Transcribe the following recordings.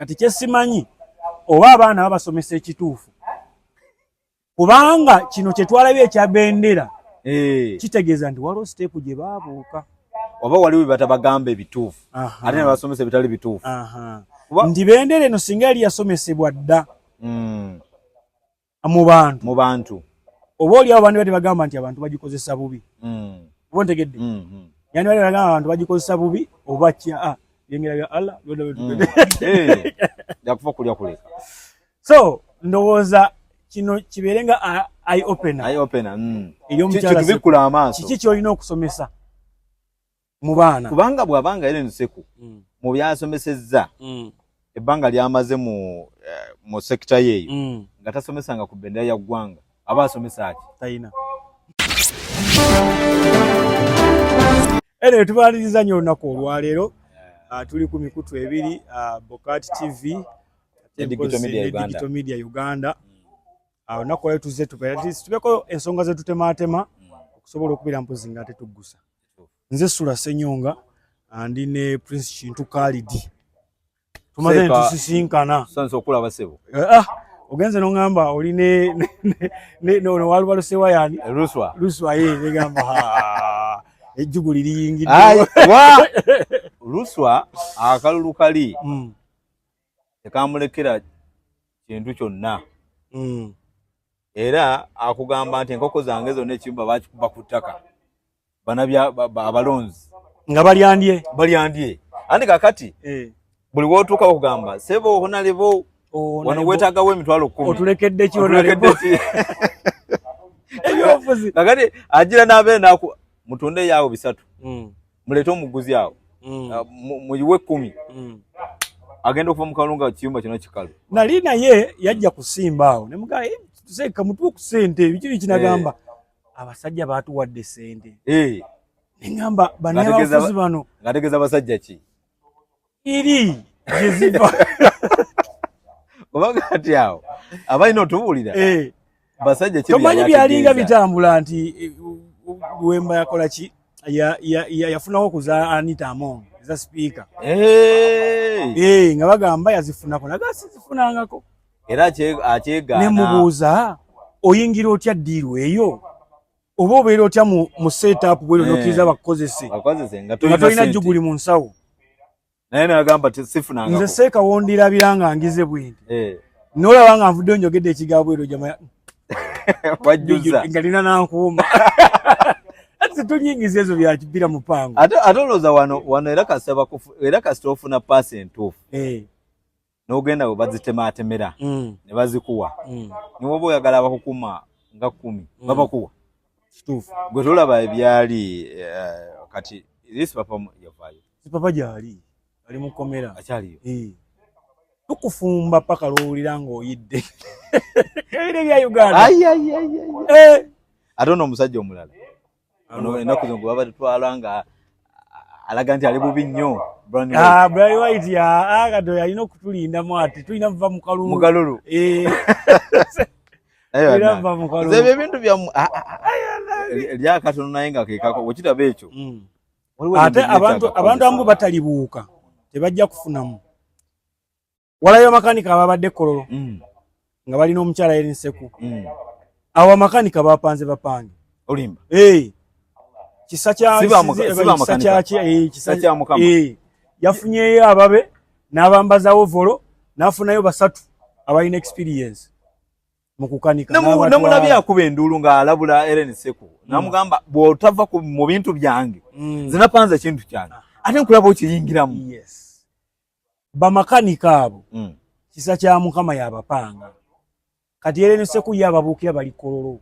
kati kyesimanyi oba abaana babasomesa ekituufu kubanga kino kyetwalabye ekya bendera eh. kitegeeza nti waliwo siteepu gye baabuuka oba waliwo bebatabagamba ebituufu ate nebasomesa ebitali bituufu nti bendera eno singa yali yasomesebwa dda hmm. mu bantu mu bantu oba oli abo bandibadde bagamba nti abantu bagikozesa bubi mm. oba ntegedde mm -hmm. yani bali bagamba abantu bagikozesa bubi oba kya ah, byengera bya allah byona mm. eh, yakufa hey. kulya kuleka so ndowooza kino kibeere nga ah, eye opener eye opener mm. eyomukyala kiki kyolina okusomesa mu baana kubanga bwabanga Ellen Seku mm. mu byasomesezza mm. ebbanga lyamaze mu eh, mu sekita yeeyo mm. nga tasomesanga ku bendera ya ggwanga aba asomesa ati tayina eno tubaliriza nnyo olunaku olwaleero eh. ah, tuli ku mikutu ebiri ah, bokat tv digital media uganda ah, olunaku olwaleero tuzze tubeera tubeko ensonga zetutemaatema okusobola okubira mpozi nga tetugusa nze sula senyonga andi ne prince kintu kalidi tumaze ntusisinkana sansa okulaba sebo eh, ah ogenze nongamba oli ne ne ne ono waluba lusewa yani eh, luswa luswa ye negamba ha ejjugu liri yingidde wa luswa akalulu kali mm. tekamulekera kintu kyonna hmm. era akugamba nti enkoko zange zonna ekiyumba bakikuba ku ttaka abalonzi nga balyandye balyandye andi kakati eh. buli wotuuka okugamba sebo honalebo oh, wano wetagawo emitwalo kumi otulekedde ki honalebo kakati ajira nabenaku mutunde yaawo bisatu hmm. mulete omuguzi awo mm. ah, muyiwe ekkumi mm. agenda okuva mukalu nga kiyumba kyona kikalu nali naye yajja kusimba awo nemugaa eh, seeka mutuwe ku sente biki biki nagamba eh. abasajja baatuwadde sente eh. nengamba banaye abafuzi bano ngategeza basajja ki iri gyeziva obaga kati awo abalina otubuulira eh. basajja tomanyi byalinga bitambula nti eh, wemba yakola ki yafunawo okuza anita among eza sipiika eh. nga bagamba yazifunako naga sizifunangako era akyegaana nemubuuza oyingira otya ddiiru eyo oba obeera otya mu setup bwero eh. nokiriza bakukozese nga tolina juguli mu nsawo naye nagamba sifunanga nze seeka wondirabira nga ngize bwindi eh. nolaba nga nvudde onjogedde ekiga bwero jama wajjuza ngalina nankuuma situnyingiza ezo byakibira mupango ate olowooza wano wano era kasita ofuna paasi entuufu eh. nogenda webazitematmera mm. nebazikuwa mm. niwoba oyagala bakukuma nga kumi mm. babakuwa kituufu gwe tolaba ebyali uh, kati isi papa yavayo si papa gyali ali mukomera akyaliyo eh. tukufumba paka lwowulira ngaoyidde ebire bya uganda eh. ate ono omusajja omulala Ono enaku zongo baba twala nga alaga nti ali bubi nnyo ah, Brian White ya aga ah, do ya ino kutulinda mwati tuina vva mukalulu mukalulu eh era vva mukalulu zebe bintu bya ah, lya katono naye nga kekako wekitaba ekyo mm. ate abantu abantu amu batalibuuka tebajja kufunamu walayo amakanika ababadde kololo mm. nga balina omukyala yeri nseku mm. awo amakanika bapanze bapange olimba eh. kisa eh, yafunyeyo ababe n'abambazawo volo n'afunayo basatu abalina experience mukukanikanamunabye akuba enduulu ng'alabula eren seku mm. namugamba bw'otava mu bintu byange mm. zinapanza ekintu kyange ate nkulaba okiyingiramu bamakanika abo mm. kisa kya mukama yabapanga kati era ne seku yababuukira bali kololo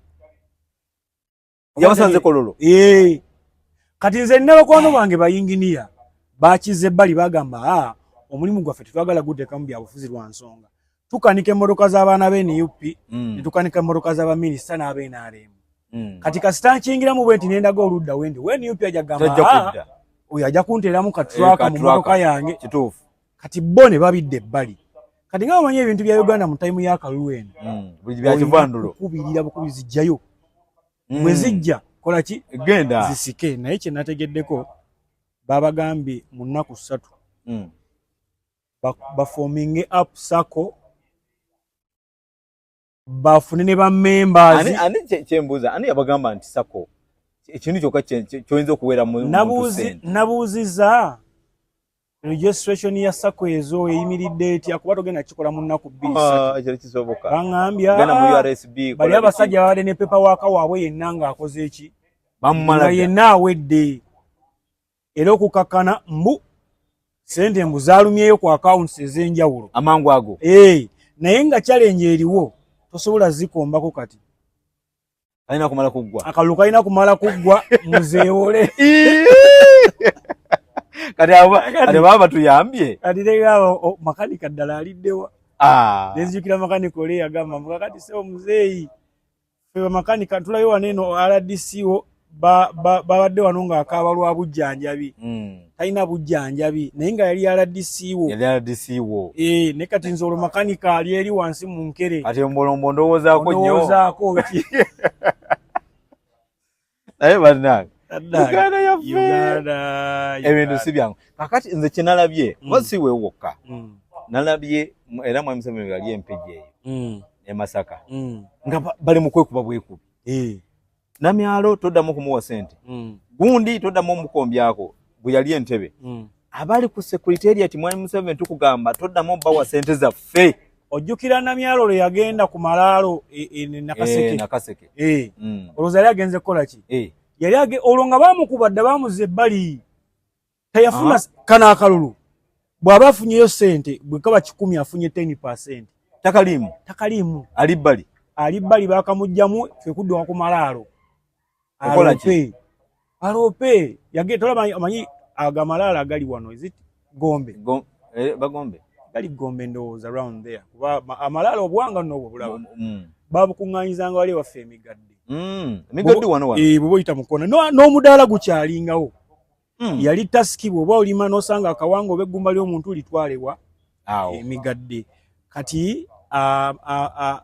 yabasanze kololo ee kati nze nina bakwano bange bayinginiya bakize bali bagamba a ah, omulimu gwaffe tetwagala gudekamu byabufuzi lwa nsonga tukanika emmotoka z'abaana be nup mm. ne tukanika emmotoka z'abaminisita n'abenaremu mm. kati kasita nkingiramu bwe nti nendaga oludda wendi we nup aja gamba ah, oyo aja kunteeramu katraka eh, mu mmotoka yange kati bo ne babidde ebbali kati nga bamanyi ebintu bya uganda mu tayimu ya kalulu eno mm. kubirira bukubi zijjayo bwe zijja kola ki genda zisike naye kye nategeddeko babagambye mu nnaku ssatu bafominge ba up sako bafune ne bamembazikyembuuza ani yabagamba nti sako ekintu kyoka kyoyinza okuwera nabuuziza registration ya sako ezo eyimiridde etya kuba togenda kikola mu nnaku bbiribaŋambyabaali ah, abasajja babadde ne pepa waka waabwe yenna ng'akoze eki yenna awedde era okukakkana mbu sente mbu zalumyeyo ku akawunti ez'enjawulo amangu ago e, naye nga kyalenje eriwo tosobola zikombako kati alina kumala kuggwa akalulu kalina kumala kuggwa muzeewole kati baba batuyambye kati negamba makanika ddala aliddewa ah. nenzijukira makanika ole yagamba mukakati seo muzeeyi ffe bamakanika tulayo wano eno rdco babadde wano ng'akaaba lwa bujjanjabi hmm. talina bujjanjabi naye nga yali rdco eh, naye kati nze olwo makanika ali eri wansi mu nkere ati ombolombo ndowoozaako nyo naye bannange uganda yaffe ebintu si byangu kakati nze kyenalabye mm. oba si wewokka mm. nalabye era mwami museveni yali empigi eyo mm. emasaka nga bali mukwekuba bwekubi eh. namyalo toddamu okumuwa sente gundi toddamu omukombyako bwe yali entebe mm. abali ku secretariat mwali museveni tukugamba toddamu bawa sente zaffe ojjukira namyalo lwe yagenda ku malaalo e, e, nakaseke eh, eh. mm. olowooza yali agenze kukola ki eh. yali olwo nga bamukuba dda bamuza ebbali teyafuna ah. kano akalulu bw'aba afunyeyo sente bwe kaba kikumi afunye ten percent takaliimu takaliimu ali bbali ali bbali bakamugjamu fekudduka ku malaalo okola ki alope yage tolaba amanyi agamalala gali wano is it gombe Go, eh, bagombe gali gombe ndowooza around there kuba amalala obwanga nobwo bulaba mm. mm. babukuŋŋanyizanga wali waffe emigadde mm. emigadde wano wano eh bwo yita mukona no no mudala guchalingawo mm. yali taski bwo bwa ulima no sanga akawango begumba lyo muntu litwalewa awo emigadde kati a a a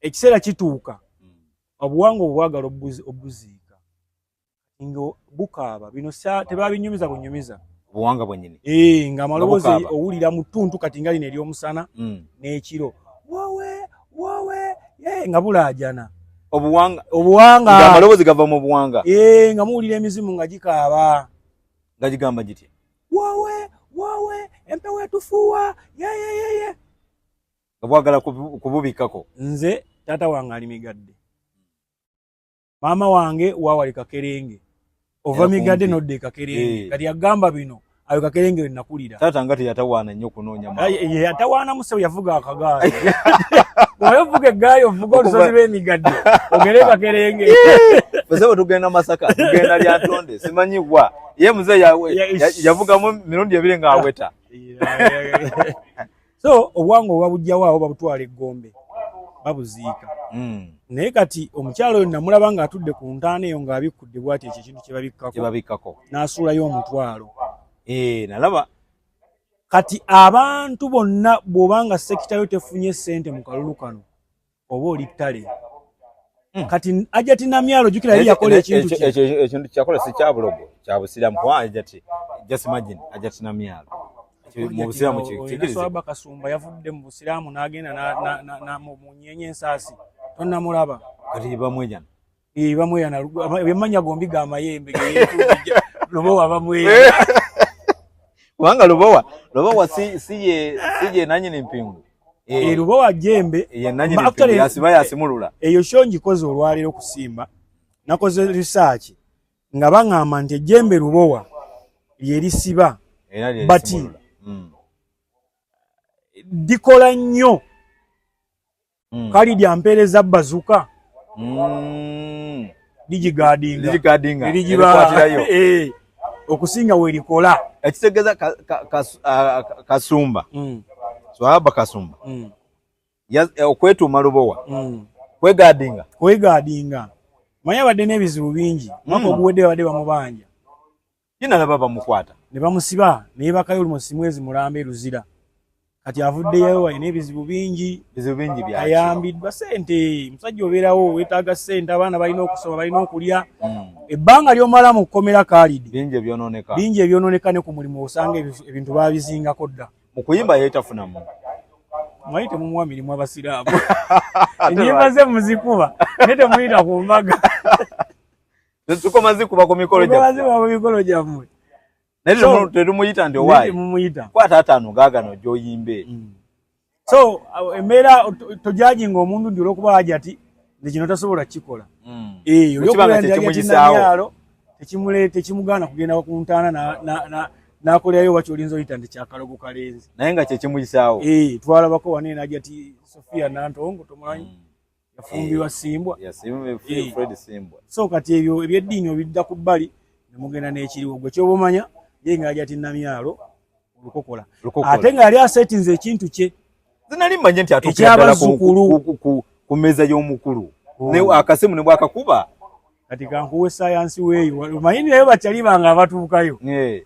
ekisera kituuka obuwangwa obwagala obuziika nga bukaaba bino tebabinyumiza bunyumiza obuwanga bwenyini eh, nga amaloboozi owulira mu ttuntu kati nga lino ery'omusana hmm. n'ekiro wowe wowe eh, nga bulaajana obuwanga obuwanga nga amaloboozi gava mu buwanga eh, nga muwulira emizimu nga gikaaba nga gigamba gitya wowe wowe empewo etufuuwa yeyeyeye yeah, yeah, yeah, yeah. nga bwagala kububikkako nze taata wange ali migadde maama wange wawali kakerenge ova migadde nodda ekakerenge eh. kati agamba bino ayo kakerenge wenakulira taata nga teyatawaana nnyo kunoonya yatawaana musebo yavuga akagaali oyo ovuga eggaali ovuga olusozi lw'emigadde ogere kakerenge musebo tugenda masaka tugenda lyantonde simanyi wa ye muze yavugamu mirundi ebiri ng'aweta so obuwangwa oba bujjawo awo babutwala eggombe babuziika hmm. naye kati omukyalo oyo namulaba ng'atudde ku ntaana eyo ng'abikkudde bwati ekyo ekintu kyebabikkako n'asuulayo omutwalo eh, nalaba kati abantu bonna bw'oba nga sekitayo tefunye ssente mu kalulu kano oba oli ttale hmm. kati ajati namyalo jukira yali yakola ekintu ekintu kyakola si kyabulogo kya busiramu kuba ajati just imagine ajati namyalo mu busiramu kigirizaaba kasumba yavudde mu busiramu n'agenda mu nyenye ensaasi tonnamulaba kati bamwejana Eh bamweya na bemanya gombi ga mayembe lubowa bamweya. Eh. Wanga lubowa lubowa si siye siye nanyi ni mpingu. Eh, eh lubowa jembe ye nanyi ni mpingu yasiba yasimulula. Eyo eh, shonji kozo olwalero kusimba nakoze research nga bangamba nti ejembe lubowa lyerisiba bati mm. likola nnyo mm. kalidi ampereza bazuka mm. digigadingaerigibaayo eh, okusinga werikola ekitegeza kasumba mm. swahaba kasumba mm. eh, okwetuuma lubowa mm. kwegadinga kwegadinga manya badde n'ebizibu bingi mwaka mm. oguwedde babadde bamubanja ye nalaba bamukwata ne bamusiba naye bakayo olumu simwezi mulamba eruzira kati avuddeyo alina ebizibu bingi bizibu bingi bya ayambiddwa sente musajja obeerawo wetaaga sente abaana balina okusoma balina okulya hmm. ebbanga lyomala mu kukomera kalidi bingi ebyononeka bingi ebyononeka ne ku mulimu osanga ebintu babizingako dda mu kuyimba yeetafunamu mwayi temumuwa mirimu abasiraamu enyimba ze muzikuba naye temuyita ku mbaga Tukoma zikuba ku mikolo gyammwe. Tukoma zikuba ku mikolo gyammwe. Naye tetumuyita nti owaayi. Mumuyita. Kwata ataano gaagano gy'oyimbe. Mm. So embeera tojajinga omuntu nti olwokuba hajati nze kino tasobola kukikola. Mm. Eyo eh, olwokuba nti hajati namyalo tekimuleeta tekimugaana kugenda ku ntaana na na na nakolerayo wakyo olinza oyita nti kyakalogo kalenzi. Naye nga kye kimuyisaawo. Ee eh, twalabako wane na hajati Sofia Nantongo tomulanyi. Mm. yafumbirwa eh, simbwa eh. so kati ebyo ebyeddiini obidda ku bbali ne mugenda n'ekiriwo gwe kyoba omanya ye nga yali ati namyalo olukokola ate nga yali asetinze ekintu kye zinali mmanye nti atuukira ku mmeeza y'omukulu oh. akasimu ne bwakakuba kati kankuwe sayansi weeyo omanyi naye bakyali bange abatuukayo eh.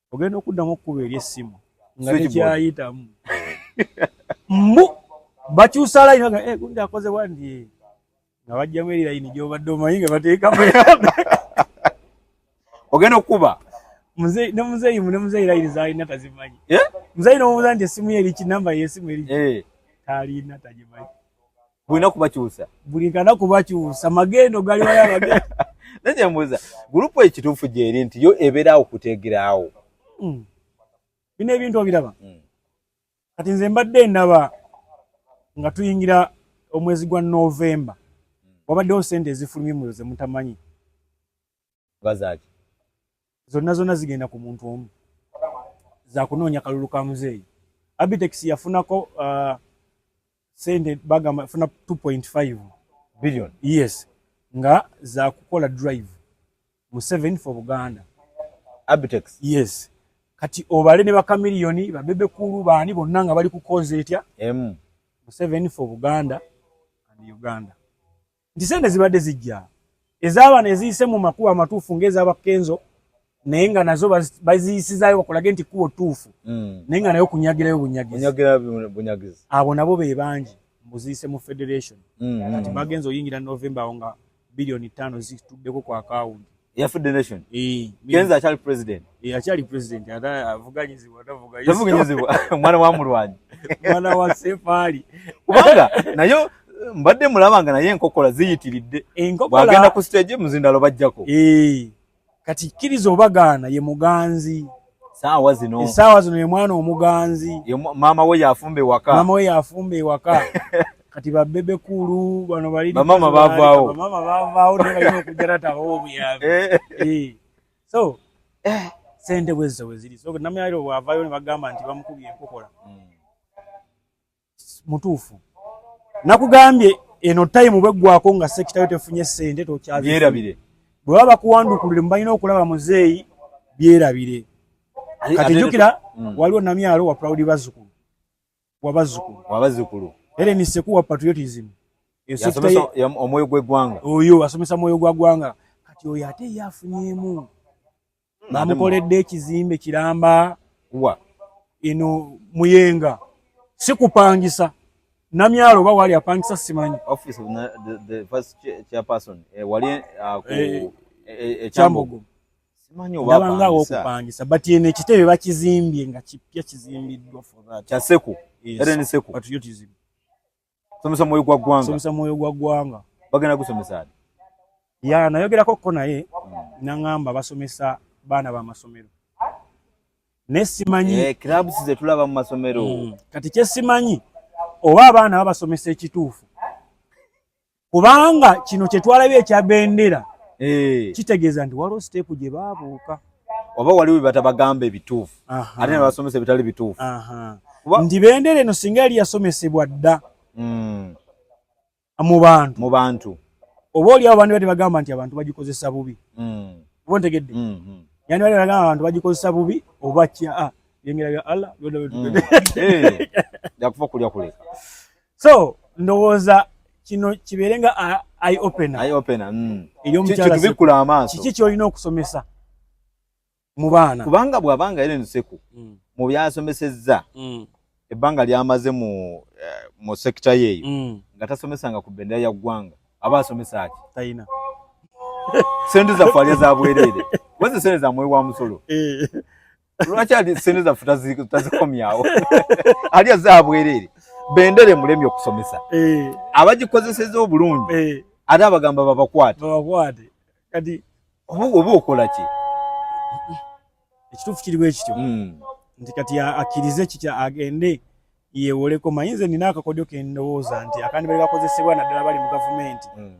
ogenda okuddamu okukuba eri essimu nga tekyayitamu mbu bakyusa layini nga eh, gundi akoze wandi eh. nga bajjamu eri layini gyobadde omanyi nga bateekamu ogenda okukuba ne muzeeyi ne muzeeyi layini zalina tazimanyi eh? muzeeyi nomubuza nti essimu ye eriki namba yesimu eriki talina tagimanyi bulina kubakyusa buli kana kubakyusa magendo gali waya magendo nanye mbuza gurupu ekituufu gyeri nti yo ebeeraawo kutegeraawo hmm. bino ebintu obiraba hmm. kati nze mbadde ndaba nga tuyingira omwezi gwa novemba hmm. wabaddewo sente ezifulumye muyo zemutamanyi bazaki zonna zonna zigenda ku muntu omu zakunoonya kalulu ka muzeeyi abitex yafunako uh, sente bagamba funa 2.5 billion yes nga zakukola drive mu 7 for buganda abitex yes kati obale ne bakamiliyoni babebe kulu baani bonna nga bali kukoza etya emu mu 7 for buganda and uganda nti sente zibadde zijja ez'abaana eziyise mu makubo amatuufu ng'eza bakenzo naye nga nazo baziyisizayo bakulage nti kkubo ttuufu hmm. naye nga nayo kunyagirayo bunyagizi abo nabo be bangi mbuziise mu federation hmm, hmm. kati bagenza oyingira novemba awo nga biliyoni ttaano zituddeko ku akawunti yafudde nation eh, kenza akyali president eh, akyali president ata avuganyizibwa tavuganyizibwa tavuganyizibwa omwana wa mulwanyi omwana wa sefaali kubanga nayo mbadde mulaba nga naye enkokola ziyitiridde bwagenda ku stage muzindalo bajjako eh, kati kkiriza obagaana ye muganzi saawa zino esaawa zino ye mwana omuganzi maama we yafumba ewaka maama we yafumba ewaka kati babebe kulu bano bali bamama bavaawo bamama bavaawo naye balina okujja tatabawo obuyambi eh. Eh. so eh. sente bwezizo bweziri so namyairo bwavayo ne bagamba nti bamukubye enkokola hmm. mutuufu nakugambye eno time bweggwako nga sekitayo tefunye sente tokyabyerabire bwe baba bakuwandukulire mubalina okulaba muzeeyi byerabire kati jukira mm. waliwo namyalo wa proud bazukulu wabazukulu wabazukulu ere ni seku wa patriotism omwoyo gwegwanga oyo asomesa mwoyo gwa gwanga kati oyo ate yafunyemu bamukoledde ekizimbe kiramba wa ino muyenga sikupangisa namyalo oba wali apangisa simanyi office of the, the first chairperson eh, wali uh, ku eh, eh, eh chambogo eh, simanyi oba apangisa okupangisa but ene kitebe bakizimbye nga kipya kizimbiddwa for that kya seku yes. eren seku but you tizimbi somesa mwoyo gwa ggwanga somesa mwoyo gwa ggwanga bagenda gusomesa ya nayogerako ko naye hmm. nangamba basomesa baana ba masomero naye simanyi eh, clubs ze tulaba mu masomero hmm. kati kyesimanyi oba abaana babasomesa ekituufu kubanga kino kyetwalabye ekya bendera eh. kitegeeza nti waliwo siteepu gye baabuuka oba waliwo byebatabagamba ebituufu ate nebasomesa ebitali bituufu nti bendera eno singa yali yasomesebwa dda hmm. mu bantu mu bantu oba oliawo bandi bati bagamba nti abantu bagikozesa bubi hmm. oba ntegedde hmm, yani bali bagamba abantu bagikozesa bubi oba kya ah, yengera ya allah yakufa okulya kuleka so ndowooza kino kibeere nga eye opener eye opener mm. eri omukyala kitubikula amaaso kiki kyolina okusomesa mu baana kubanga bwabanga Ellen Seku mm. mu byasomesezza mm. ebbanga lyamaze mu eh, mu sector yeyo mm. nga tasomesanga ku bendera ya ggwanga aba asomesa ati tayina sente zaffe alya za bwereere wazisente zamwewa musolo eh. lwaki ali sente zaffe tazikomyawo ali azabwerere bendere mulemi okusomesa eh. abagikozeseza obulungi eh. ate abagamba babakwate kati oba okola ki ekituufu kiriwo ekityo hmm. nti kati akkirize kikya agende yewoleko manyi nze nina akakodyo kendowooza nti akandi bali bakozesebwa naddala bali mu gavumenti hmm.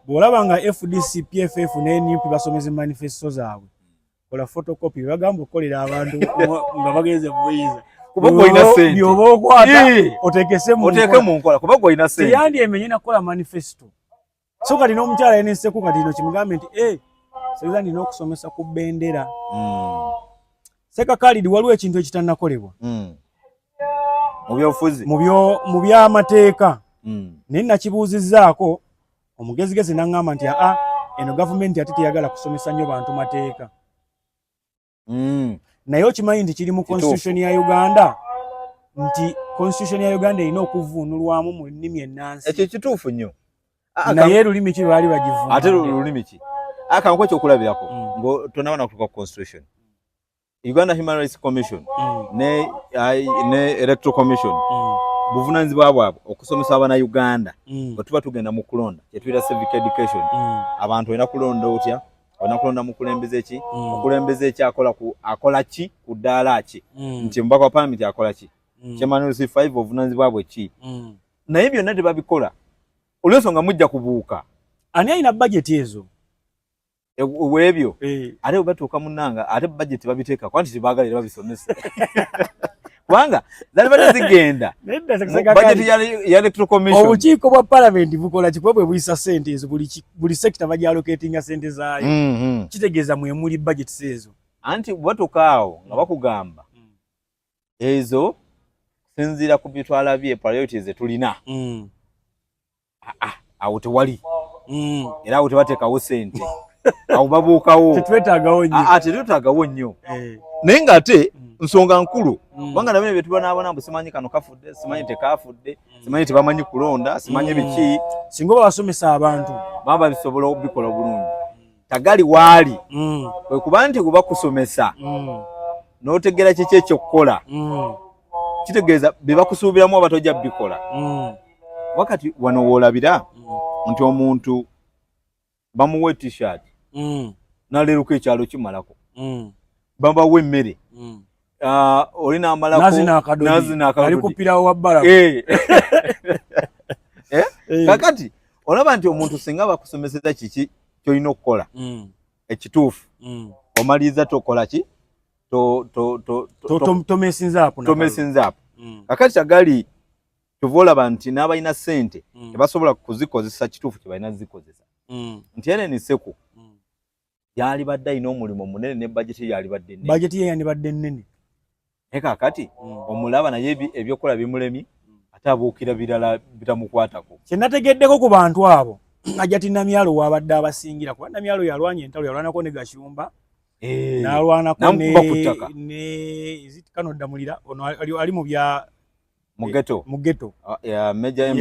bw'olaba nga fdc pff ne nup basomeza manifesto zaabwe kola photocopy bagamba okukolera abantu nga bagenze mubuyiza kubyoba okwata otekese munkola kuba gwolina sente teyandi emenye nakukola manifesto so kati n'omukyala yeneseko kati no kimugambe nti e eh, seza nina okusomesa ku bendera hmm. seka kalidi waliwo ekintu ekitanakolebwa hmm. mubyobufuzi mu byamateeka hmm. naye nakibuuzizaako omugezigezi naŋŋamba nti aa eno gavumenti ate teyagala kusomesa nnyo bantu mateeka hmm. naye okimanyi nti kiri mu constitution ya uganda nti constitution ya uganda erina okuvuunulwamu mu nnimi ennansi ekyo kituufu nnyo naye lulimi ki lwali bagivuuna ate lulimi ki akanku ekyokulabirako hmm. nga tonabana kutuka ku constitution Uganda Human Rights Commission mm. ne, uh, ne Electoral Commission mm. buvunanyizibwa bwabwe okusomesa abana Uganda mm. bwetuba tugenda mu kulonda kyetuyita civic education mm. abantu olina kulonda otya olina kulonda mukulembeze ki mm. mukulembeze ki akola ku akola ki ku ddaala ki mm. nti mubaka wa palamenti akola ki mm. kyemanusi five obuvunanyizibwa bwe ki mm. naye byonna tebabikola olwensonga mujja kubuuka ani alina bajeti ezo e, webyo eh. ate batuuka munanga ate budget babiteeka kwanti tibagala era babisomesa kubanga zali bade zigenda budget ya electoral commission obukiiko bwa parliament bukola kikuba bwe buyisa sente ezo buli sector bagyalocatinga sente zaayo mm-hmm. kitegeeza mwemuli budget seezo anti batuuka awo nga bakugamba mm. ezo sinziira ku byetwalabye priorities zetulina mm. ah, ah, awo tewali mm. era awo tebatekawo sente awo babuukawo tetwetagawo nyo ah, tetwetagawo nyo eh. naye nga ate mm. nsonga nkulu mm. kubanga nabene bye tubonaabona mbu simanyi kano kafudde simanyi tekafudde mm. simanyi tebamanyi kulonda simanyi biki singa oba basomesa abantu baba bisobola obikola obulungi tagali waali mm. kwe kuba nti kuba kusomesa mm. n'otegeera kiki ekyokukola mm. kitegeeza bye bakusuubiramu oba tojja bikola mm. wakati wano woolabira mm. nti omuntu bamuwa etishat mm. naleeruka ekyalo kimalako mm. babawa emmere mm. uh, oli namalalinazinaakadoalikupirawo wabbala eh. eh? eh. kakati olaba nti omuntu singa bakusomeseza kiki kyolina okukola mm. ekituufu mm. omaliriza tokola ki tomesinzaapo mm. kakati tagali kyova olaba nti n'abalina sente mm. tebasobola kuzikozesa kituufu kyebalina zikozesa mm. nti ene niseku yalibadde alina omulimu munene ne bajeti yalibadde nene bajeti ye yandibadde nene naye kakati mm. omulaba naye ebyokukola bimulemye mm. ate abuukira birala bitamukwatako kye nategeddeko ku bantu abo ajati namyalo wabadde abasingira kuba namyalo yalwanya entalo yalwanako ne gashumba eh. nalwanako ne ezitkanodamulira ono ali mu bya mugeto mugeto ah, meja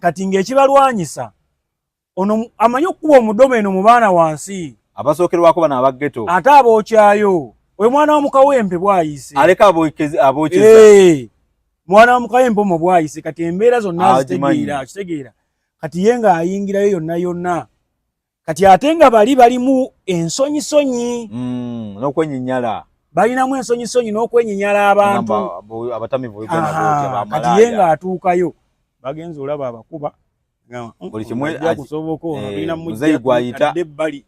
kati ngaekibalwanyisa ono amanyi okukuba omudomo eno mu baana wansi abasookerwako bano abageto ate abookyayo oyo mwana wa mukawempe bwayise aleka abokyeza mwana wa mukawempe omo bwayise kati embeera zonna zitegeera kitegeera kati ye nga ayingirayo yonna yonna kati ate nga bali balimu ensonyisonyi mm, n'okwenyinyala balinamu ensonyisonyi n'okwenyinyala abantu abatamivuekati ye ng'atuukayo bagenza olaba abakuba buli kimuakusoboka ono eh, tulina muzeyi gwayita ebbali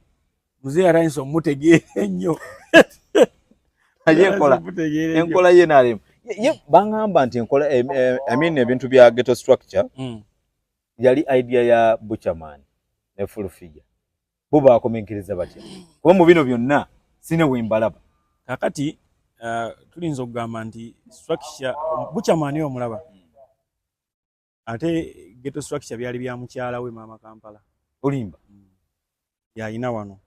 muzeyi atandisa omutegeera ennyo ayekola enkola ye nalemu ye bangamba nti enkola eh, eh, i mean ebintu bya ghetto structure mm. yali idea ya butcherman ne full figure bo bakomenkiriza batya kuba mu bino byonna sine wembalaba kakati uh, tulinza okugamba nti structure butcherman yo omulaba ate geto structure byali bya mukyala we mama kampala olimba mm. yalina wano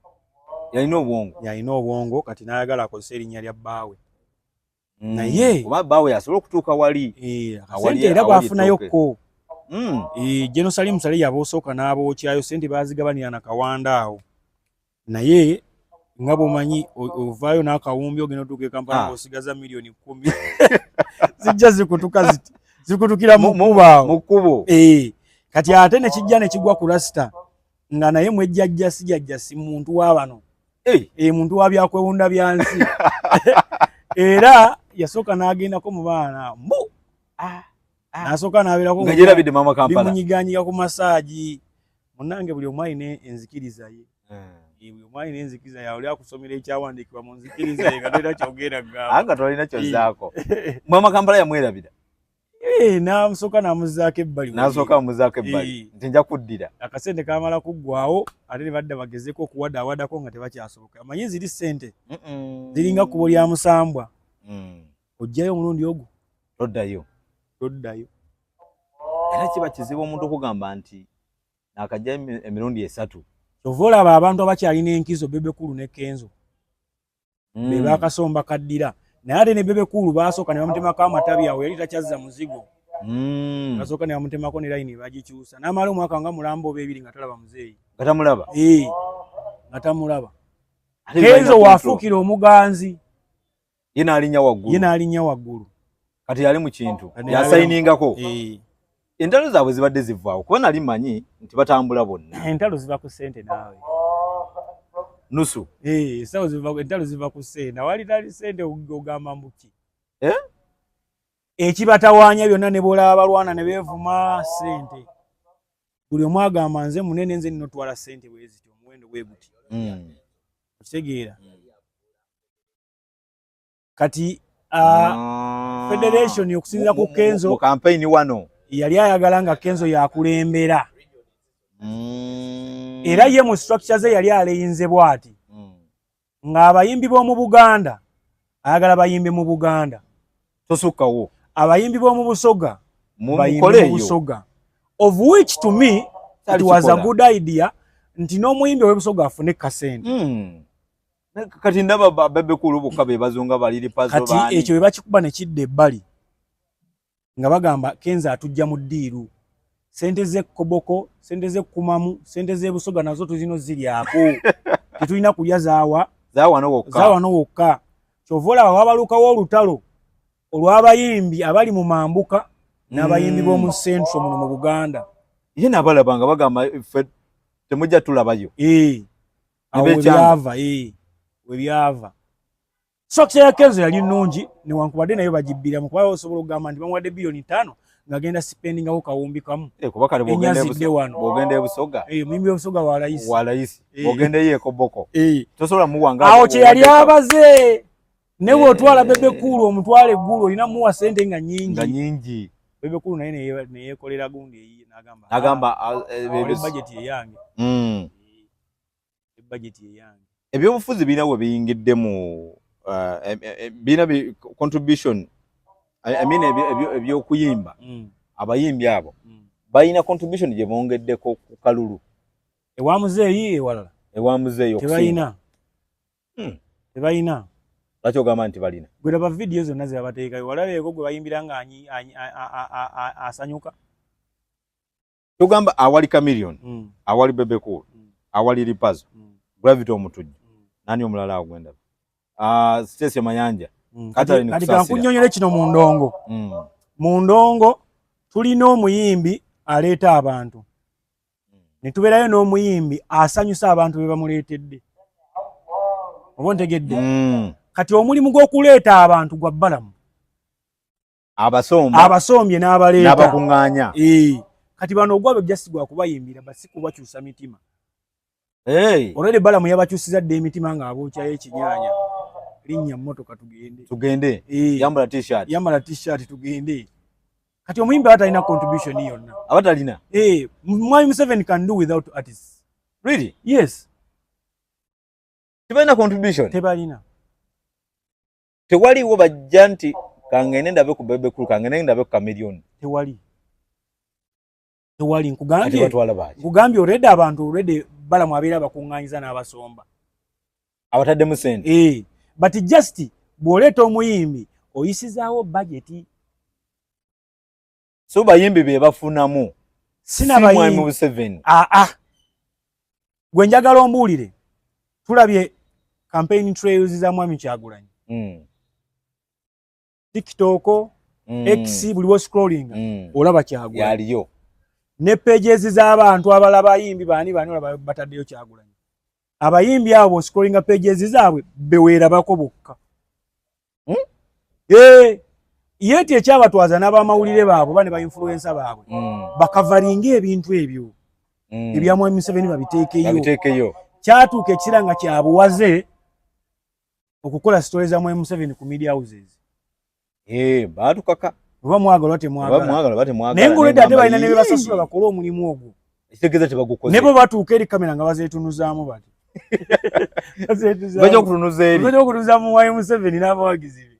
yalina obwongo yalina obwongo kati nayagala akozesa erinnya lya bbaawe mm. naye oba bbaawe yasobola okutuuka wali eh, sente era bwafunayo kko mm. eh, jenosalimu sale yaba osooka n'abookyayo sente bazigabanira na kawanda awo naye nga bwomanyi ovaayo n'akawumbi ogenda otuuka ekampala ah. osigaza miliyoni kumi zijja zikutuka ziti zikutukira mu kubo eh, kati ate nekijja nekigwa ku rasita nga naye mwejjajja sijajja si muntu wa bano hey. e, eh, muntu wa byakwewunda bya nsi era yasooka n'agendako mu baana mbu ah, ah. nasooka n'abeerakomunyiganyiga ku masaagi munange buli omu alina enzikiriza ye hmm. eh, buli omu alina enzikiriza yaoli akusomera ekyawandiikibwa mu nzikiriza ye nga tolina kyogera gamba nga tolina kyozaako mwamakampala yamwerabira Eh, namusoka namuzaako ebbali nasoka amuzaako ebbali eh. nti nja kuddira akasente kamala kuggwawo ate ne badda bagezeko okuwadaawadako nga tebakyasoboka amanyi ziri sente ziringa kubo lya musambwa mm. ojjayo omulundi ogwo toddayo toddayo era kiba kizibu omuntu okugamba nti nakajja emirundi esatu kyova olaba abantu abakyalina enkizo bebekulu ne kenzo mm. be bakasomba kaddira naye ate ne bebe kuulu baasooka ne bamutemako amatabi awo yali takyazza muzigo mm. basooka ne bamutemako ne layini bagikyusa n'amala omwaka nga mulamba oba ebiri nga talaba muzeeyi nga tamulaba ee eh, nga tamulaba kenzo waafuukira omuganzi ye n'alinnya waggulu ye n'alinnya waggulu kati yali mu kintu yasayiningako ee eh. entalo zaabwe zibadde zivaawo kuba nali manyi nti batambula bonna entalo ziva ku sente naawe nusu eh, esawo entalo ziva ku sente awali tali sente ogamba mbuki eh? ekibatawaanya byonna ne bwolaba balwana ne beevuma sente buli omu agamba nze munene nze nina otwala sente bweziti omuwendo bwe guti hmm. okitegeera kati uh, ah. federation okusinzira ku kenzo mu campaign wano yali ayagala nga kenzo yakulembera mm. era ye mu structure ze yali aleyinze bwati mm. ng'abayimbi b'omu buganda ayagala bayimbe mu buganda tosukkawo abayimbi b'omu busoga bayimbe mu busoga of which to me it was a good idea nti n'omuyimbi ow'ebusoga afune kasente mm. kati ndaba babekulu bokka be bazunga baliri pazo bani kati ekyo bebakikuba ne kidde ebbali nga bagamba kenza atujja mu ddiiru sente ze koboko sente ze kumamu sente ze busoga nazo tuzino ziri ako tetulina kulya zaawa zaawa no wokka zaawa no wokka kyovola wabalukawo olutalo olw'abayimbi abali mu mambuka n'abayimbi mm. b'omu central muno mu buganda ye nabalabanga bagamba fe temujja tulabayo ee eh. awo webyava ee webyava sokisi ya kenzo yali nungi newankubadde nayo bagibbiramu kuba osobola okugamba nti bamuwadde biliyoni ttaano ngagenda sipendingawo kawumbi kamu eh, enyazidde wanoogenda ebusoga eh, muyimbi webusoga walayisi walayisi eh. ogenda eyo ekoboko tosobola muwanga awo kyeyali abaze newe otwala bebe kuulu omutwala eggulu olina muwa sente nga nyingi bebe kuulu naye neyekolera gundi eyiye nagamba ah, ah, bajeti eyange hmm. budget eyange ebyobufuzi birina we biyingidde mu uh, e, e, e, birina bi contribution i mean ebyokuyimba mm. abayimbi abo mm. balina contribution gye bongeddeko ku kalulu ewa muzeeyi ewalala ewa muzeeyi tebalina hmm. tebalina lwaki ogamba nti balina gwe laba vidiyo zonna ze babateekayo walabeeko gwe bayimbira nga asanyuka tugamba awali chameleon mm. awali bebe cool mm. awali lipazo mm. gravity omutujju mm. nani omulala awo gwendaba uh, ah, stesi mayanja mm. kati kankunyonyole kino mu ndongo mm. mu ndongo tulina omuyimbi aleeta abantu mm. ne tubeerayo n'omuyimbi asanyusa abantu be bamuleetedde oba ontegedde mm. kati omulimu gw'okuleeta abantu gwa bbalamu abasomba abasombye n'abaleeta n'abakung'anya ee kati bano ogwabwe just gwa kubayimbira but si kubakyusa mitima hey. olwede balamu yabakyusiza dda emitima ng'abookyayo ekinyanya linnya mmotoka tugende tugende ee yambala t-shirt yambala t-shirt tugende kati omuyimbi aba talina contribution yonna aba talina ee mwami museven can do without artists really yes tebalina contribution tebalina tewaliwo bajja nti kangende ndabe ku bebe kulu kangende ndabe ku kamilioni tewali tewali nkugambye nkugambye already abantu already balamu abeera abakunganyiza n'abasomba abataddemu sente ee eh, but just bw'oleeta omuyimbi oyisizaawo bajeti so bayimbi be bafunamu sina bayimbi mu seven a ah, a ah. gwe njagala ombuulire tulabye campaign trails za mwami kyagulanyi mm. tiktok mm. x buli wo scrolling mm. olaba kyagulanyi yaliyo ne pages z'abantu abala bayimbi bani bani olaba bataddeyo kyagulanyi abayimbi abo scrolling pages zaabwe beweerabako bokka hmm? eh, yeti ekyabatwaza n'abamawulire baabwe oba ne bainfluensa baabwe hmm. bakavalinga ebintu ebyo hmm. ebyamwami museveni babiteekeyo kyatuuka ekisira nga kyabuwaze okukola sitole za mwami museveni ku media houses eh, batukaka oba mwagala oba temwagala naye ngaolwedde ate balina ne bebasasula bakole omulimu ogwo Ekitegeeza tebagukoze. Nebo batuuka eri kamera nga bazeetunuzaamu bati. Bajja okutunuza eri. Bajja okutunuza mu wayi Museveni n'abawagizi be.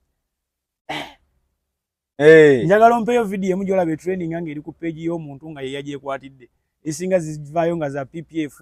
Hey. Njagala ompeyo video emu gy'olaba training nga eri ku page y'omuntu nga ye yagyekwatidde. Esinga zivaayo nga za PPF.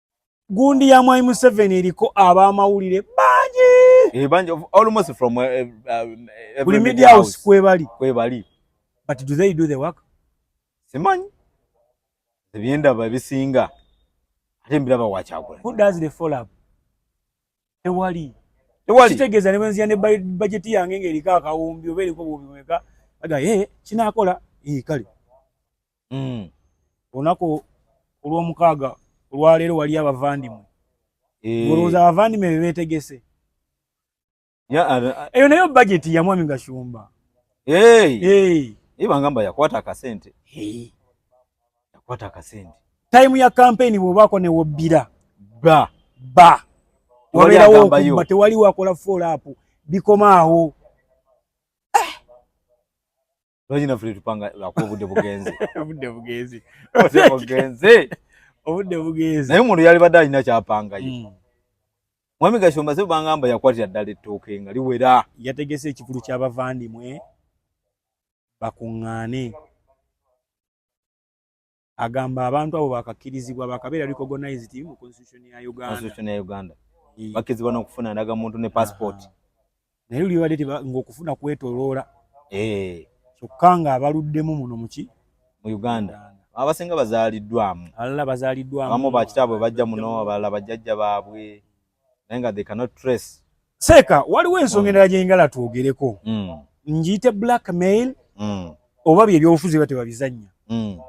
gundi ya mwai Museveni eriko abamawulire bangi bangi almost from uh, uh, buli media house kwebali kwebali but do they do the work simanyi ebyendaba ebisinga ate mbiraba wakyagula who does the follow up tewali tewali kitegeeza ne bwenziya ne bajeti yange ng'eriko akawumbi oba eriko bubiweka aga ye eh, kinaakola ee eh, kale hmm. olunaku olw'omukaaga olwaleero wali abavandimwe eh. olowooza abavandimwe be beetegese eyo nayo bajeti ya mwami gashumba ibangamba yakwata akasente yakwata akasente time ya campaign bwobako ne wobbira ba ba wabeerawo okubba tewali wakola follow up bikoma awo lwaki naffe tetupanga lwakuba obudde bugenze obudde bugenze bugenze obudde bugenze naye omuntu yalibadde alina kyapangayo mm. mwami gashomba se bangamba yakwatira ddala ettooke nga liwera yategese ekikulu ky'abavandimwe bakuŋŋaane agamba abantu abo bakakkirizibwa bakabeera recognized mu constitution ya uganda constitution ya uganda eh. bakkirizibwa n'okufuna ndaga muntu ne passport naye luli badde ng'okufuna kwetoloola eh. kyokka nga abaluddemu muno muki mu uganda abasinga bazaaliddwamu abalala bazaaliddwamu abamu bakitaabwe bajja muno abalala bajjajja baabwe naye nga they cannot trace seeka waliwo ensonga endala gyengala twogereko mm. ngiyite black mail mm. oba bye byobufuzi ba tebabizannya mm.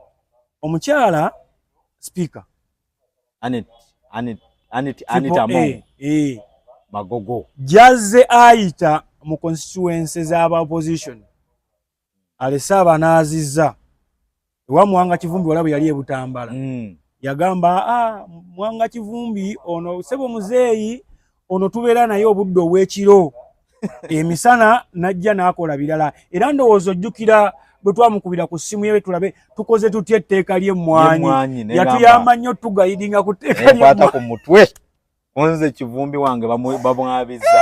omukyala speaker anet anet anet anet amo eh, eh. magogo jazze ayita mu constituency z'aba opposition alese abanaaziza ewa mwanga kivumbi walabu yali ebutambala mm. yagamba ah, mwanga kivumbi ono sebo muzeeyi ono tubeera naye obudde obwekiro emisana najja nakola birala era ndowooza ojjukira bwe twamukubira ku ssimu yewe tulabe tukoze tutya etteeka ly'emmwanyi yatuyamba nnyo tugayidinga ku tteeka lyata ku mutwe kunze kivumbi wange bamwabiza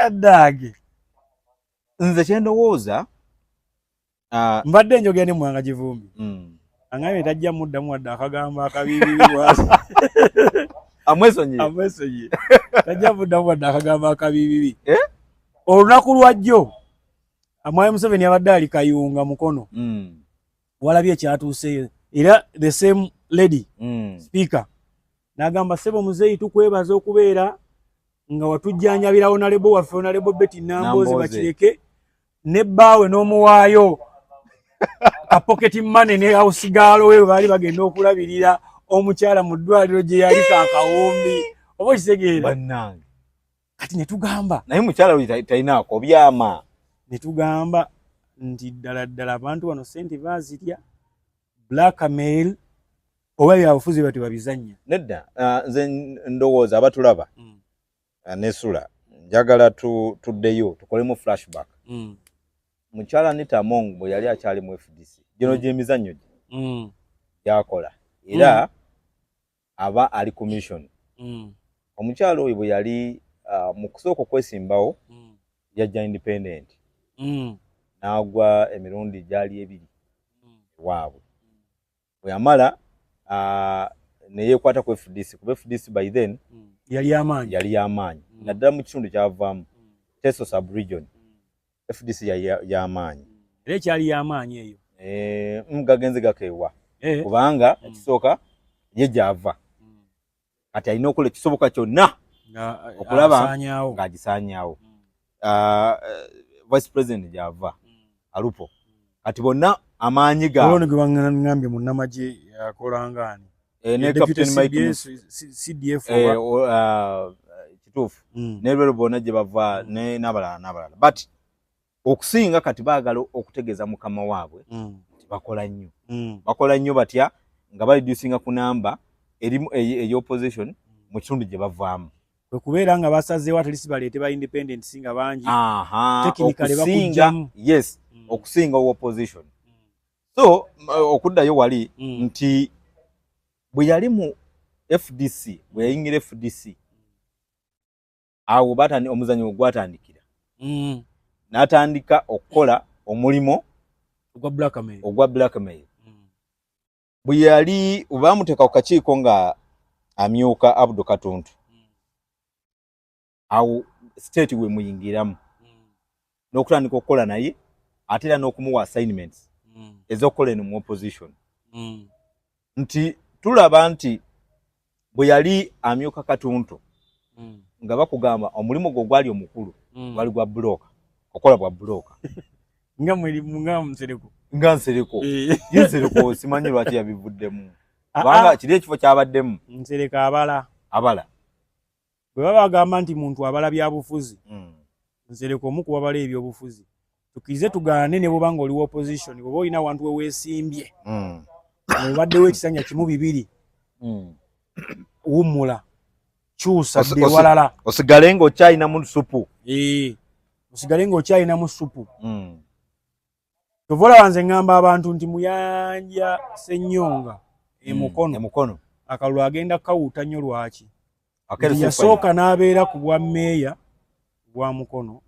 eh, dage nze kyendowooza ah, mbadde njogera ne mwanga kivumbi mm. angambye tajja muddamu wadde akagambo akabiibibibwasi amwesonyiye amwesonyiye tajja muddamu wadde akagambo akabiibibi eh? olunaku lwajjo amwami museveni abadde ali kayunga mukono mm. walabye ekyatuuseeyo era the same lady mm. speaker nagamba sebo muzeyi tukwebaza okubeera nga watujjanjabira onalebo waffe onalebo beti nambozi bakireke ne bbaawe n'omuwaayo kapoketi mane ne ausigaalo we baali bagenda okulabirira omukyala mu ddwaliro gye yali kakawumbi oba okitegeera kati ne tugamba naye mukyala oyo talinaako byama ne tugamba nti ddala ddala abantu bano sente bazirya blackmail oba byabufuzi bati babizanya nedda ah, nze ndowooza abatulaba mm. ah, nesula njagala tuddeyo tukolemu flashback mm. mukyala nita among bwe yali akyali mu fdc gino mm. gyemizannyo gye gyakola era aba ali commission omukyala oyo bwe yali ah, mu kusooka okwesimbawo yajja independent n'agwa emirundi gyali ebiri ewaabwe weyamala uh, neyekwata ku fdc kuba fdc by then mm. yali yamaanyi yali yamaanyi mm. naddala mu kitundu kyavaamu mm. teso subregion mm. fdc yali yamaanyi mm. era ekyali yamaanyi eyo eh, mm, gagenze gakeewa eh. kubanga mm. ekisooka ye gyava mm. kati alina okola ekisoboka kyonna eh, okulaba ng'agisaanyaawo hmm. ah, eh, vice president gyava hmm. alupo kati bonna amaanyi gaoloni gwe baŋambye munnamagye akolangaani eh, ne captain mike cdf ah, kituufu hmm. ne lwero bonna gye bava n'abalala n'abalala but okusinga kati baagala okutegeeza mukama waabwe mm. nti bakola nnyo mm. bakola nnyo batya nga balidusinga ku namba erimu eyopposition mm. mu kitundu gye bavaamu okubeera nga basazeewo atlist baleete ba independent singa bangi okusinga yes mm. okusinga opposition so okuddayo wali mm. nti bwe yali mu fdc bwe yayingira fdc awo batandika omuzanyo ogwatandikira mm. natandika okukola omulimu ogwa blackmail ogwa blackmail mm. bwe yali baamuteeka ku kakiiko nga amyuka abdu katuntu mm. awo state wemuyingiramu mm. n'okutandika okukola naye ate era n'okumuwa assignments mm. ez'okukola eno mu opposition mm. nti tulaba nti bwe yali amyuka katuntu mm. nga bakugamba omulimu gwo gwali omukulu mm. gwali gwa bulooka okola bwa bulooka nga mweri nga nsereko nga nsereko eh. ye nsereko simanyi lwaki yabivuddemu ah, kubanga ah. kiri ekifo kyabaddemu nsereko abala abala bwe baba bagamba nti muntu abala byabufuzi mm. nze leka omu kubabala ebyobufuzi tukirize tugaane ne bwoba nga oli opposition bwoba olina awantu weweesimbye mm. obaddewo ekisanja kimu bibiri mm. wummula kyusa ewalala osigale nga okyalinamu supu osigale nga okyalinamu supu kyova olaba nze ŋŋamba abantu nti muyanja senyonga emukono mm, emukono akalulu agenda kawuuta nnyo lwaki yasooka n'abeera ku bwa meeya bwa mukono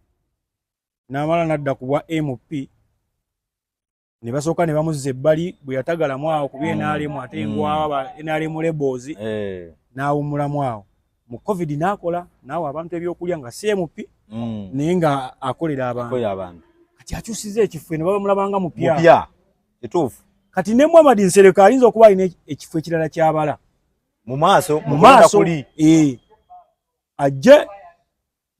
n'amala n'adda ku bwa mp ne basooka ne bamuzza ebbali bwe yatagalamu awo kuba mm, nrm ate mm. ngwawa nrm lebozi eh. n'awummulamu awo mu covid nakola naawe abantu ebyokulya nga cmp mm. naye nga akolera abantu kati akyusiza ekifo ne baba mulabanga mupya kituufu kati ne muhamadi nsereka ayinza okuba alina ekifo ekirala kyabala mu maaso mu maaso eh. ajje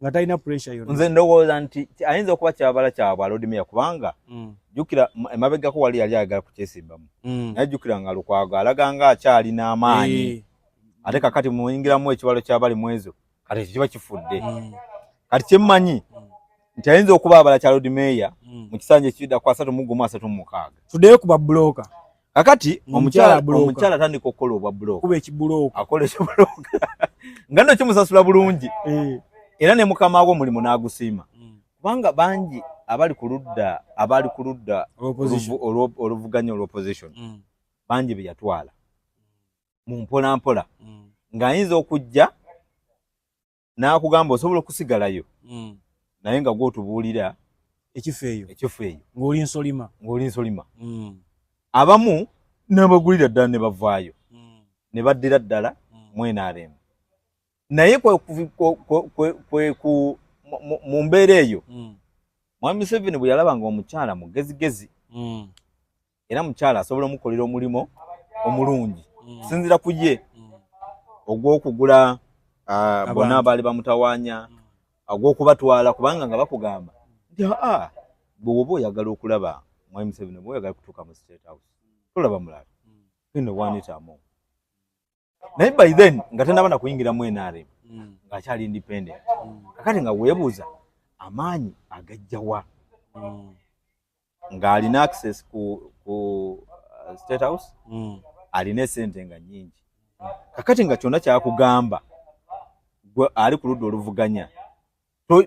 nga talina pressure yonna nze ndowooza nti ayinza okuba kyabala kya bwalodimiya kubanga mm. jukira emabegako wali yali ayagala kukyesimbamu mm. naye jukira nga lukwago alaga nga akyalina amaanyi eh. ate kakati muyingiramu ekibalo kyabali mwezo kati ekyo kiba kifudde mm. kati kyemmanyi nti ayinza okuba abala kya lodimeya mu kisanja ekibidda ku asatu mugumu asatu mumukaaga tuddeyo ku babuloka kakati omukyala omukyala tandika okukola obwa bulooka kuba ekibulooka akola ekibulooka nga nno kimusasula bulungi eh. era ne mukama wo mulimu n'agusiima hmm. kubanga bangi abali ku ludda abali ku ludda oluvuganya olwoposition hmm. bangi be yatwala mu mpolampola hmm. ng'ayinza okujja n'akugamba osobola okusigalayo mm. naye nga gwotubuulira ekifo eyo ekifo eyo ng'oli nsolima ng'oli nsolima mm. abamu n'abagulira ddala ne bavaayo mm. ne baddira ddala mm. mwenaaremu naye kweku mu mbeera eyo mm. mwami museveni bwe yalaba nga omukyala mugezigezi mm. era mukyala asobola omukolera omulimu omulungi mm. sinzira ku ye mm. ogw'okugula ah, bona abaali bamutawanya mm. ogw'okubatwala kubanga nga bakugamba nti aa bwe woba oyagala okulaba mwai museveni oba oyagala kutuuka mu state house tolaba mulala ino wanitamu naye by then nga tanaba na kuyingira mu NRM mm. nga akyali independent mm. kakati nga webuuza amaanyi agajjawa mm. nga alina access ku, ku uh, state house mm. alina esente nga nyingi kakati nga kyona kyakugamba gwe ali ku ludda oluvuganya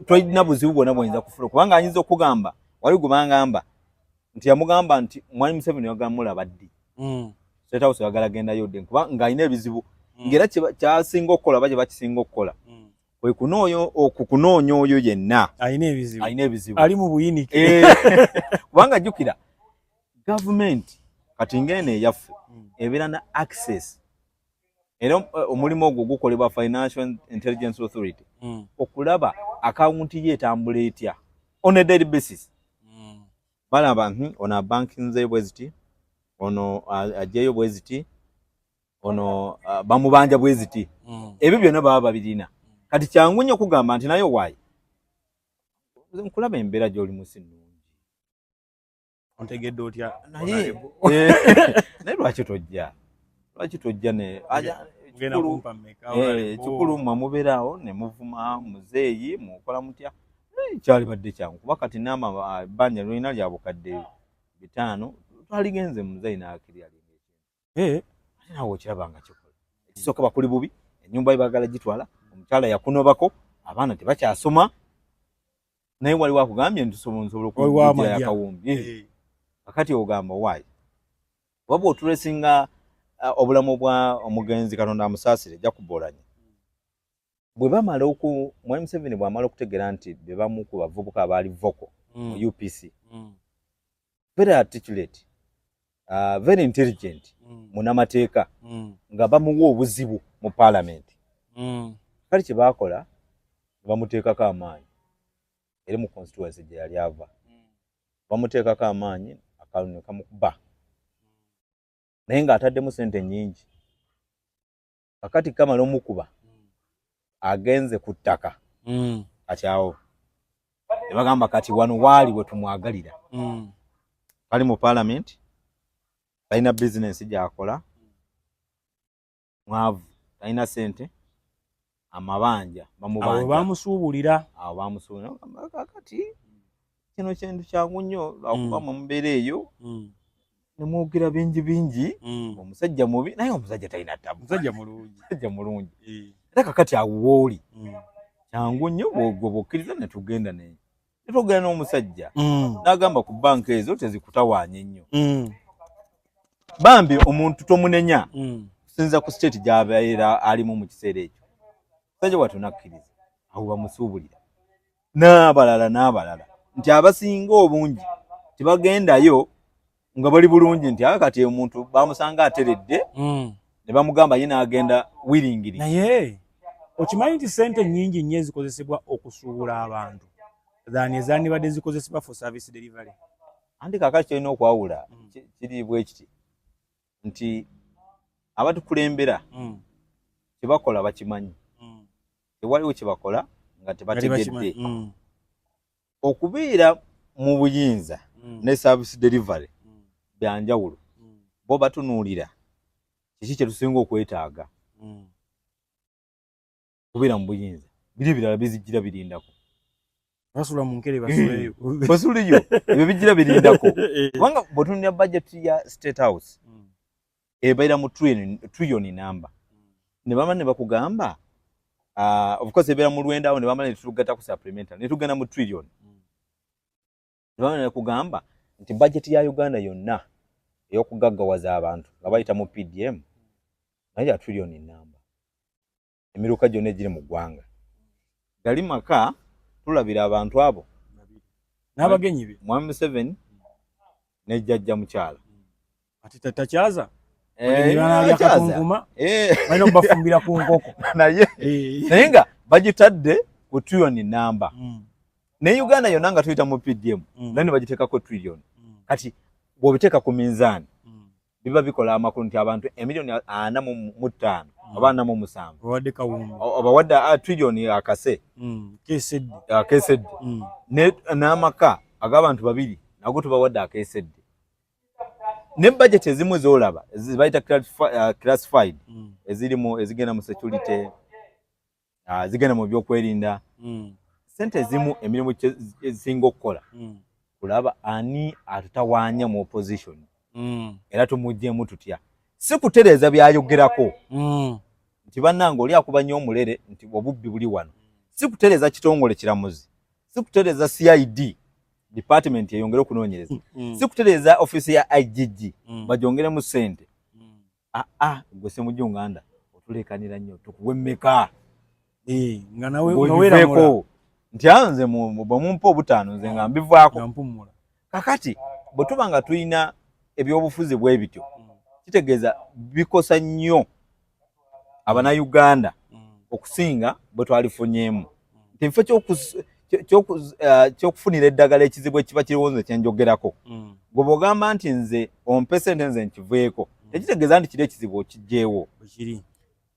tolina buzibu bwona bwoyinza kufula kubanga ayinza okugamba wali gubangamba nti yamugamba nti mwali museveni wagamulaba ddi mm. setawusi wagala gendayo dde kuba ngaalina ebizibu mm. ngaera kyasinga okukola oba kyebakisinga okukola mm. okukunoonya oyo yenna alina ebizibu ali mu buyinike eh. kubanga jjukira gavumenti kati ngaeno eyaffe ebeera na access era eh, omulimu ogwo gukolebwa financial intelligence authority mm. okulaba akawunti ye etambula etya on a daily basis mm. balaba nti ono abanki nze bweziti ono ajeeyo bweziti ono bamubanja bweziti mm. ebyo byonna baba babirina kati kyangu nnyo kugamba nti naye owaayi nkulaba embeera gy'oli musi nnungi ontegedde otya naye naye lwaki tojja lwaki tojja ne ekikulu eh, mwe mubeeraawo ne muvuma muzeeyi mukola mutya kyali badde kyangu kuba kati naama ah, ebbanja lulina lya bukadde bitaano twaligenze muzeeyi n'akirya eh nawe okiraba nga kikola ekisooka bakuli bubi enyumba ye bagala gitwala omukyala yakunobako abaana tebakyasoma naye waliwo akugambye nti sobola okuakawumbi eh. eh. akati ogamba waayi waba otulesinga uh, obulamu bwa omugenzi katonda amusaasire jakubolanya bwe bamala oku mwali museveni bwamala okutegeera nti bebamu ku bavubuka abaali voko mu mm. upc mm. very articulate uh, very intelligent mm. munamateeka mm. nga bamuwa obuzibu mu parliament mm. kali kyebakola bamuteekako amaanyi eri mu constituency gye yali ava mm. bamuteekako amaanyi akalunyo kamukuba mm. naye nga ataddemu sente nyingi kakati kamala omukuba agenze ku ttaka mm. kati awo ne bagamba kati wano waali we tumwagalira mm. bali mu paalamenti talina bizinensi gyakola mwavu talina sente amabanja bamubanjabamusuubulira awo bamusuubulira kakati kino kintu kyangu nnyo lwakuba mm. mumubeera eyo mm. nemwogera bingi bingi mm. omusajja mubi naye omusajja talina tabu musajja mulungi musajja mulungi eh. era kakati awo wooli kyangu nnyo bwobokkiriza netugenda naye netwogera n'omusajja n'agamba ku banka ezo tezikutawaanya ennyo bambi omuntu tomunenya kusinza ku state gyabeera alimu mu kiseera ekyo musajja watu nakkiriza awo bamusuubulira n'abalala n'abalala nti abasinga obungi tebagendayo nga bali bulungi nti aa kati omuntu bamusanga ateredde hmm. ne bamugamba ye n'agenda wiringiri naye okimanyi nti sente nyingi nnyo ezikozesebwa okusuubula abantu than ezandibadde zikozesebwa for service delivery anti kakaki kirina okwawula hmm. kiri bwekiti nti abatukulembera mm. kyebakola bakimanyi mm. tewaliwo kyebakola nga tebategedde mm. okubeera mu buyinza mm. ne service delivery mm. byanjawulo mm. bo batunuulira kiki kyetusinga okwetaaga mm. kubeera mu buyinza biri ebirala bizijjira birindako basula mu nkere basuleyo eh, basuleyo ebyo bijjira birindako eh. kubanga bwetunira bajeti ya state house hmm. ebeera mu triyoni namba hmm. ne bama ne bakugamba ah, ofcourse ebeera mu lwenda awo ne bamala ne tugatta ku supplemental ne tugenda mu triyoni hmm. ne bamala ne kugamba nti bajeti ya uganda yonna ey'okugaggawaza abantu nga bayita mu pdm naye ya triyoni namba emiruka gyonna egiri mu ggwanga gali maka tulabira abantu abo n'abagenyi be mwami museveni ne jjajja mukyala kati tatakyaza eh, eh. balina okubafumbira ku nkoko naye eh. naye nga bagitadde ku trilioni namba hmm. naye uganda yonna nga tuyita mu pdm hmm. naye ne bagiteekako trilioni hmm. kati bw'obiteeka ku minzaani biba bikola amakulu nti abantu emiliyoni ana mu ttaano mm. oba ana mu musanvu obawadde ah, triliyoni akase mm, akesedde mm. n'amaka ag'abantu babiri nago tubawadde akesedde ne bajeti ezimu ezolaba zibayita ah, classified ezirimu ezigenda mu security ah, zigenda mu byokwerinda mm. sente ezimu emirimu ezisinga okukola mm. kulaba ani atutawanya mu opposition mm. era tumujjemu tutya si kutereeza byayogerako mm. nti bannange oli akuba nnyo omulere nti obubbi buli wano si kutereeza kitongole kiramuzi si kutereeza cid department eyongere okunoonyereza mm. si kutereeza offiisi ya igg mm. bagyongeremu sente mm. ah, ah, gwe semujju nganda otulekanira nnyo tukuwe mmeka eh, nga nawe ogiveeko nti anze ah, bwemumpa obutaano nze nga mbivaako kakati bwe tuba nga tulina ebyobufuzi bwe bityo mm. kitegeeza bikosa nnyo abanauganda mm. okusinga bwe twalifunyeemu kifo eh, kyokufunira eddagala ekizibu ekiba kiriwo nze kyenjogerako mm. gwe bwogamba nti nze ompe sente nze nkiveeko mm. tekitegeeza nti kiri ekizibu okijjeewo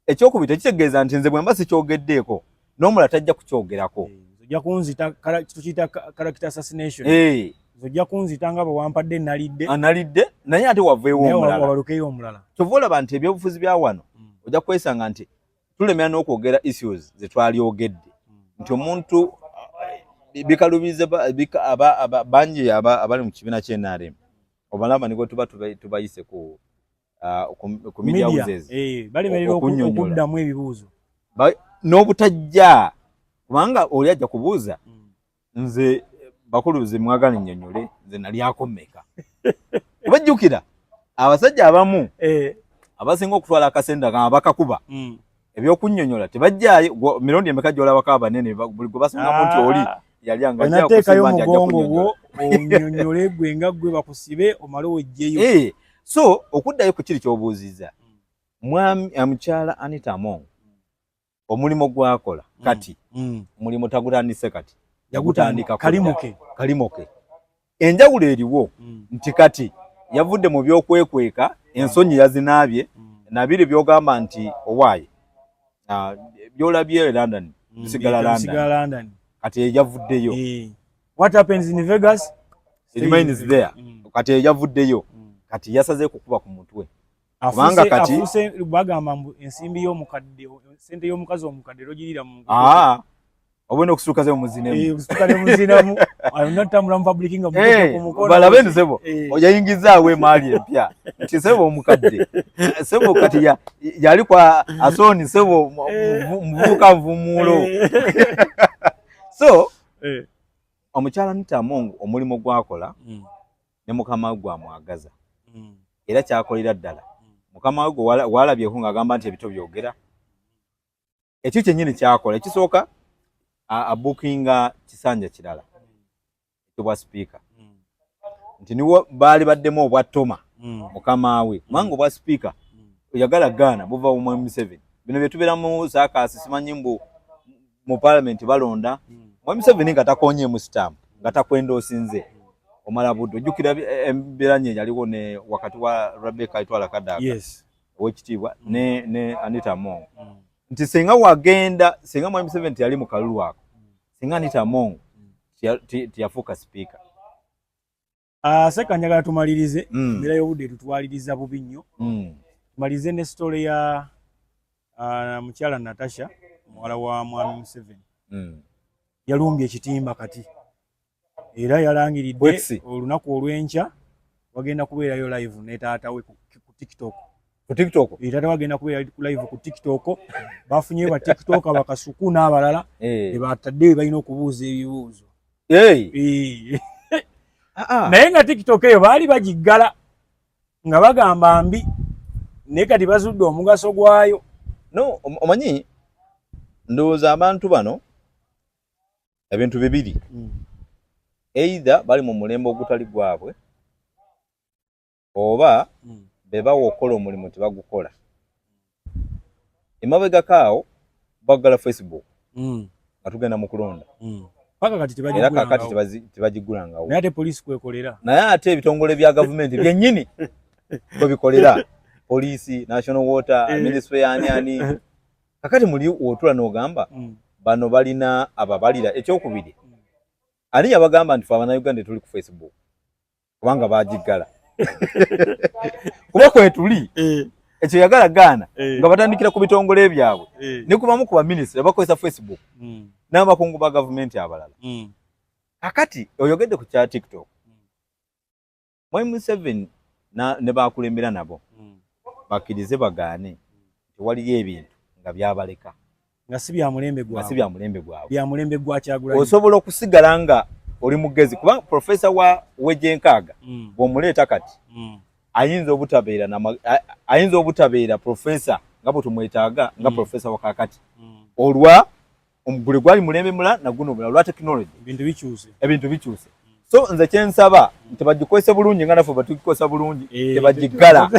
ekyokubiri tekitegeeza nti nze bwemba sikyogeddeeko n'omula tajja kukyogerako eh, ojja kunzita tukiyita character assassination eh. ojja kunzita nga bwewampadde nalidde analidde ah, naye ate waveewo omulala kyova olaba nti ebyobufuzi bya wano mm. ojja kwesanga nti tulemera n'okwogera issues ze twalyogedde nti omuntu eh, bikalubiza bangi abali mu kibiina kye nrm obalaba nigo tuba tubayise ku ah, media houses eh, okunyonyola ebibuuzo n'obutajja kubanga oli ajja kubuuza mm. nze bakulu nze mwagala nnyonnyole nze nalyako mmeka kuba jjukira abasajja abamu eh. abasinga okutwala akasente nga bakakuba hmm. ebyokunyonyola tebajjayo mirundi emeka gyolabako abanene buli gwe basingamu nti oli ah. yalyangateekayo omugongo gwo onyonyole gwe nga gwe bakusibe omale ojjeyo eh, so okuddayo ku kiri kyobuuziza hmm. mwami eh, mukyala anita among omulimu gwakola mm. kati mm. omulimu mm. tagutandise kati yagutandika kalimoke kalimoke enjawulo eriwo mm. nti kati yavudde mu byokwekweka ensonyi yazinaabye mm. nabiri byogamba nti owaaye uh, byolabye e london mm, sigala london, london. kati eyavuddeyo e. what happens in vegas remains there mm. kati eyavuddeyo mm. kati yasaze kukuba ku mutwe kubanga kati afuse bagamba mbu ensimbi yo mukadde sente yo mukazi omukadde lojirira mu ah obone okusuka ze muzine mu eh okusuka ze muzine mu ayo natambula mu public nga mukoko eh, mukoko bala bene sebo eh. oja ingiza we mali empya ti sebo omukadde sebo kati ya yali kwa asoni sebo mvuka eh. mvumulo so eh omukyala nita mungu omulimo gwakola mm. ne mukama we gwamwagaza mm. era kyakolera ddala mm. mukama we gwe walabyeko ng'agamba nti ebito byogera ekyo kyennyini kyakola ekisooka abukinga kisanja kirala ekibwa sipiika mm. nti niwo baali baddemu obwa toma mukama we kubanga obwa sipiika oyagala gaana buva mu museveni bino bye tubeera mu saakaasi simanyi mbu mu parliament balonda mwami Museveni nga takonyeemu stamp nga takwenda osinze omala budde ojjukira eh, embiranye yaliwo ne wakati wa Rebecca Itwala Kadaga yes. owekitiibwa mm. ne, ne Anita Among mm. nti singa wagenda singa mwami Museveni teyali mu kalulu ako mm. singa Anita Among mm. tiyafuuka sipiika Ah, seka njagala tumalirize mm. mira yobude tutwaliriza bubi nnyo mm. tumalirize ne story ya uh, mukyala natasha muwala wa mwami museven mm. yalumbye ekitimba kati era yalangiridde olunaku olw'enkya wagenda kubeerayo live ne taata we ku tiktok ku tiktok e, taata wagenda kubeera ku live ku tiktok bafunyeyo ba tiktok bakasuku n'abalala hey. Eh. ebataddeyo balina okubuuza ebibuuzo Ah, ah. naye nga tiktok eyo baali bagiggala nga bagamba mbi naye kati bazudde omugaso gwayo no omanyi ndowooza abantu bano ebintu bibiri hmm. eitha bali mu mulembe ogutali gwabwe oba hmm. bebawa okukola omulimu tebagukola emabegako awo bagala facebook hmm. nga tugenda mu kulonda hmm. era kakati tebagigulangawo naye ate ebitongole bya gavumenti byenyini bwebikolera poliisi national water eh. ministry yani ani kakati muli otula nogamba mm. bano balina ababalira ekyokubiri mm. ani yabagamba nti fe abanauganda tuli ku facebook kubanga bagiggala kuba kwetuli eh. ekyo yagala gaana eh. nga batandikira ku bitongole byabwe eh. ne kubamu ku baminisita bakozesa facebook hmm. n'abakungu ba gavumenti abalala hmm. kakati oyogedde ku kya tiktok hmm. mwai museveni ne bakulembera nabo bakkirize bagaane tewaliyo ebintu nga byabaleka nga si bya mulembe gwa si bya mulembe gwa bya mulembe gwa kyagula osobola okusigala nga oli mugezi kuba professor wa weje nkaga mm. bwomuleta kati mm. ayinza obutabeera na ayinza obutabeera professor nga bwe tumwetaaga nga mm. professor wa kakati mm. olwa omugule gwali mulembe mula na guno bula lwa technology ebintu bikyuse ebintu bikyuse so nze kyensaba tebagikozesa bulungi nga nafe batugikozesa bulungi eh, tebagiggala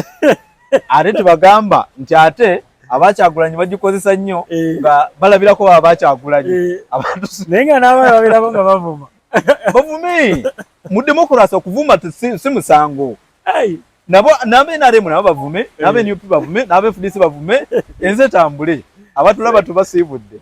ate tebagamba nti ate abakyagulanyi bagikozesa nnyo eh. nga balabirako baba bakyagulanyi eh. naye nga naaba babirako nga bavuma bavume mu demokurasi okuvuma si musango nabo nabe nrm nabo bavume nabe eh. nup bavume nabe fdc bavume enze tambule abatulaba tubasiibudde